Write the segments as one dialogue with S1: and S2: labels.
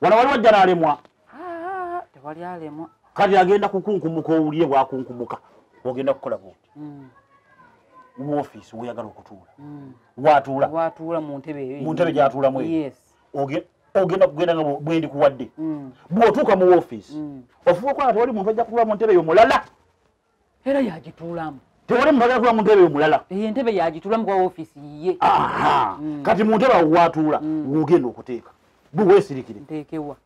S1: wala waliwo ajjala alemwa tewali
S2: alemwa kati agenda
S1: kukunkumuka owulire bwakunkumuka ogenda kukola buti hmm. mu ofiisi woyagala okutuula hmm. watuula
S2: mu ntebe gyatuulamu
S1: ogenda kugenda nga bwendi kuwadde hmm. bwotuuka mu ofiisi ofuba okola tewali muntu ajja kutuula mu ntebe yo mulala era
S2: yagituulamu tewali mubagala kuba
S1: muntebe omulala eyo entebe yagituulamu
S2: kwa ofiisi yiye mm. kati
S1: muntebe awo watuula mm. wogenda okuteeka buwesirikire ntekewa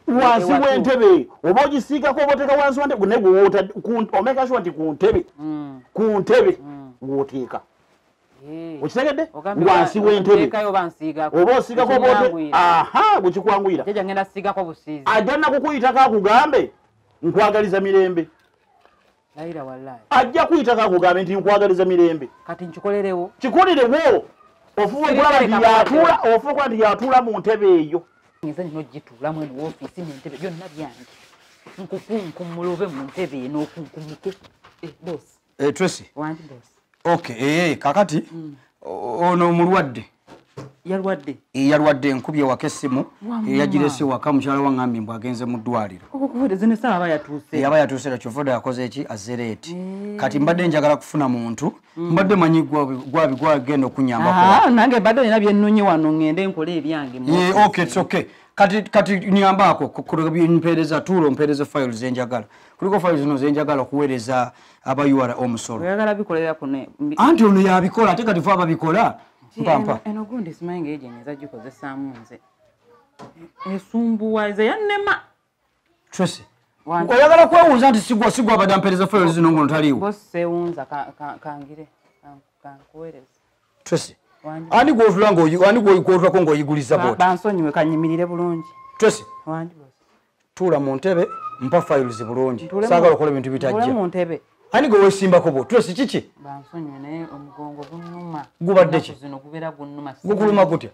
S2: wansi
S1: wentebe oba ogisiigako oba oteeka wansi wentebe naye gwewoota omeka sure nti ku ntebe mm. ku ntebe woteeka Eh. okitegedde wansi wentebe oba osiigako oba aha bwekikwanguyira ajja nakukuyitako akugambe nkwagaliza mirembe layira wallahi ajja kuyita kakugambe nti nkwagaliza mirembe kati nkikolerewo
S2: kikolerewo
S1: ofuba okulaba nti yatuula ofuba okulaba nti yatuula mu ntebe eyo nze nino
S2: gituulamu eno wofiisi nentebe byonna byange nkukunkumula obe mu ntebe eno okunkumike eh, bosi eh, tracy okay ee eh,
S3: kakati mm. ono omulwadde yalwadde eh, yalwadde nkubye waka essimu yagirese waka mukyala wangambye mbu agenze mu ddwaliro yaba yatuuse era kyovoda yakoze eki azereeti kati mbadde njagala kufuna muntu mm. mbadde manyi gwabi gwagenda okunyambanange ah, mbadde olina
S2: byenonye wano ngende nkole ebyange okay
S3: kati nyambaako mpeereza tuula ompeereza fayilo zenjagala kuliko file zino zenjagala okuweereza aba ura omusolo oyagala bikolera kuno anti ono yabikola ate kati fe ababikola mpampa eno gundi simanyi nga
S2: egyenye eza gikozesaamu nze esumbuwa eza yannema tracy
S3: oyagala kwewunza nti sigwa sigwa abadde ampeereza file zino ngono taliwo bosewunza
S2: kangire kankuweereza tracy
S3: ani gwotula nga ani gwotulako ng'oyiguliza boti bansonyiwe kanyimirire
S2: bulungi tracy
S3: tuula mu ntebe mpa files bulungi saagala okola ebintu bitajja ani gwe wesimbako bwo tula si kiki
S2: gubadde ki gukuluma gutya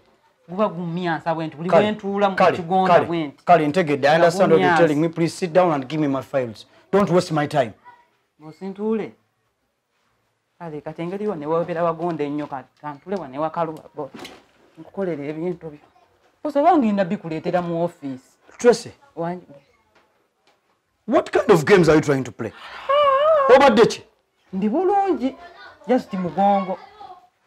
S2: kale ntegedde i understand
S3: what you're telling me please sit down and give me my files don't waste my time
S2: kale kati engeri yo newebera wagonda ennyo kantule wa newakaluba bo nkukolera ebintu byo osobola ngenda bikuleetera mu ofiisi tracy
S3: what kind of games are you trying to play ah! obadde ki ndi bulungi
S2: just mugongo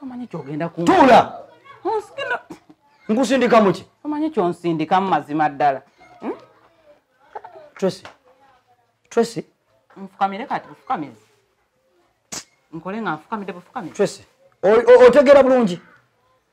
S3: tomanyi
S2: kyogenda kutuula
S3: nkusindikamu ki omanyi kyonsindikamu
S2: mazima ddala hmm? tracy
S3: tracy nfukamire
S2: kati bufukamire nkole nga nfukamire bufukamire tracy
S3: otegeera bulungi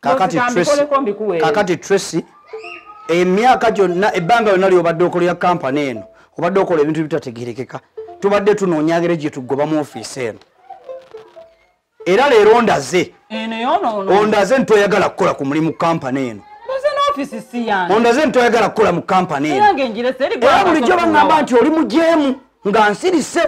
S3: kakati Tracy kakati Tracy emyaka gyonna ebbanga lyonna lyobadde okolera kampani eno obadde okola ebintu ebitategerekeka tubadde tunoonya ngeri gye tugoba mu ofiisi eno era leero ondaze ondaze nti toyagala kukola ku mulimu kampani eno ondaze nti toyagala kukola mu kampani eno era bulijjo baŋamba nti oli mujeemu nga nsirise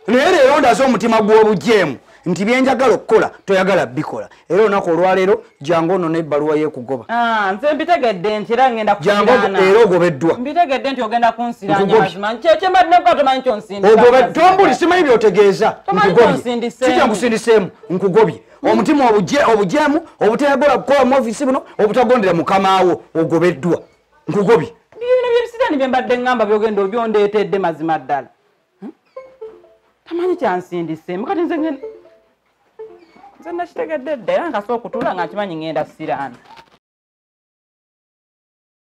S3: naye leero ndaze omutima gw'obujeemu nti byenjagala okukola toyagala bikola era olunaku olwaleero jangu ono nebbaluwa yekugoba ah, nze mbitegedde
S2: nti era ngenda jangu era ogobeddwa
S3: mbitegedde nti ogenda
S2: kunsiranyaogobeddwambuli simanyi
S3: byotegeeza nkugobyeija nkusindiseemu nkugobye hmm. omutima obujeemu obutayagala kukola mu ofisi buno obutagondera mukamaawo ogobeddwa nkugobye bino byebisirani
S2: byembadde ngamba byogenda obyondeetedde mazima ddala hmm? tamanyi kyansindiseemu kati nze nze nakitegedde dda era nkasa okutula nga nkimanyi ngenda siraana